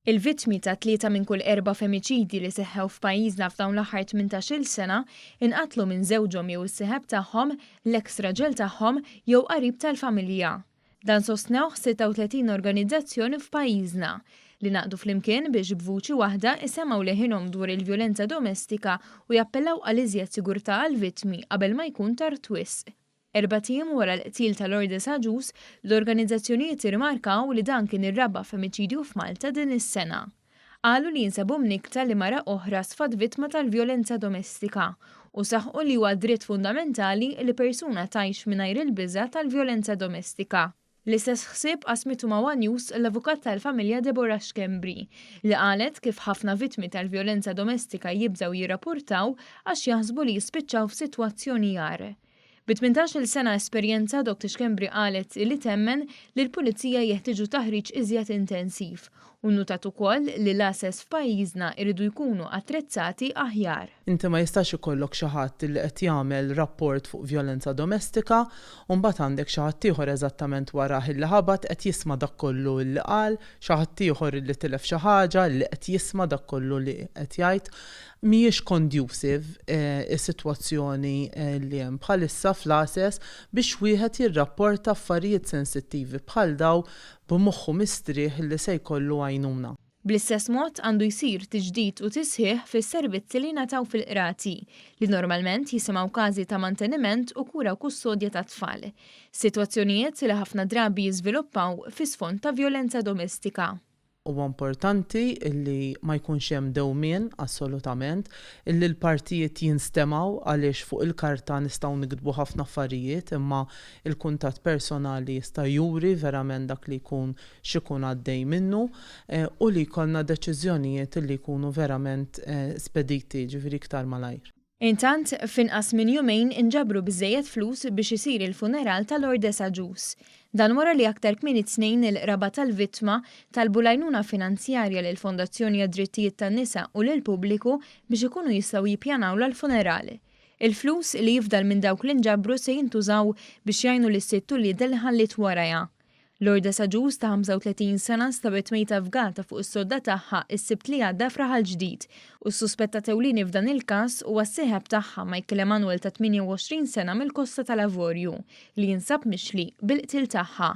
Il-vittmi ta' tlieta minn kull erba' femiċidji li seħħew f'pajjiżna f'dawn l-aħħar 18-il sena inqatlu minn żewġhom jew is-seħeb tagħhom, l-eks raġel tagħhom jew qarib tal-familja. Dan sostnewh 36 organizzazzjoni f'pajjiżna, li ngħaqdu flimkien biex b'vuċi waħda jsemgħu leħinhom dwar il-vjolenza domestika u jappellaw għal iżjed sigurtà għall-vittmi qabel ma jkun tard wisq. Erbat ijiem wara l-qtil ta' Lourdes Agius, l-organizzazzjonijiet irmarkaw li dan kien ir-raba' femiċidju f'Malta din is-sena. Qalu li jinsabu mnikkta li mara oħra sfat vittma tal-vjolenza domestika u saħqu li huwa dritt fundamentali li persuna tgħix mingħajr il-biża' tal-vjolenza domestika. L-istess ħsieb qasmitu ma' one News l-avukat tal-familja Deborah Schembri, li qalet kif ħafna vittmi tal-vjolenza domestika jibżgħu jirrapurtaw għax jaħsbu li jispiċċaw f'sitwazzjoni agħar. Bi tmintax-il sena esperjenza, Doct. Schembri qalet li temmen li l-pulizija jeħtieġu taħriġ iżjed intensiv u nnutat ukoll li l-għases f'pajjiżna jridu jkunu attrezzati aħjar. Inti ma jistax ikollok xi ħadd li qed jagħmel rapport fuq vjolenza domestika u mbagħad għandek xi ħadd ieħor eżattament warah illi ħabat qed jisma' dak kollu illi qal, xi ħadd ieħor illi tilef xi ħaġa illi qed jisma' dak kollu li qed jgħid. Mhijiex conducive is-sitwazzjoni li hemm bħalissa fl-għases biex wieħed jirrapporta affarijiet sensittivi bħal dawn b'moħħu mistrieħ li se jkollu għajnuna. Bl-istess mod, għandu jsir tiġdid u tisħiħ fis-servizzi li jingħataw fil-qrati, li normalment jisimgħu każi ta' manteniment u kura u kustodja tat-tfal, sitwazzjonijiet li ħafna drabi jiżviluppaw fi sfond ta' vjolenza domestika. Huwa importanti li ma jkunx hemm dewmien, assolutament, li l-partijiet jinstemgħu għaliex fuq il-karta nistgħu niktbu ħafna affarijiet imma Il-kuntatt personali jista' juri verament dak li jkun x'ikun għaddej minnu u li jkollna deċiżjonijiet li jkunu verament spediti, ġifieri iktar malajr. Intant, f'inqas minn jumejn inġabru biżżejjed flus biex isir il-funeral ta' Lord Desagius. Dan wara li aktar kmieni t-Tnejn il-qraba tal-vittma talbu l-għajnuna finanzjarja lill-Fondazzjoni għad-Drittijiet tan-Nisa u lill-pubbliku biex ikunu jistgħu jippjanawlha l-funeral. Il-flus li jifdal minn dawk li nġabru se jintużaw biex jgħinu lis-sitt uliedha li ħalliet warajha. Lourdes għaġuż ta' 35 sena nstabet mejta f'gata fuq is-sodda tagħha s-Sibt li għadda f'Raħal Ġdid u s-suspettat ewlieni f'dan il-każ huwa s-sieħeb tagħha Michael Emanuel ta' 28 sena mill-Kosta tal-Avorju li jinsab mixli bil-qtil tagħha.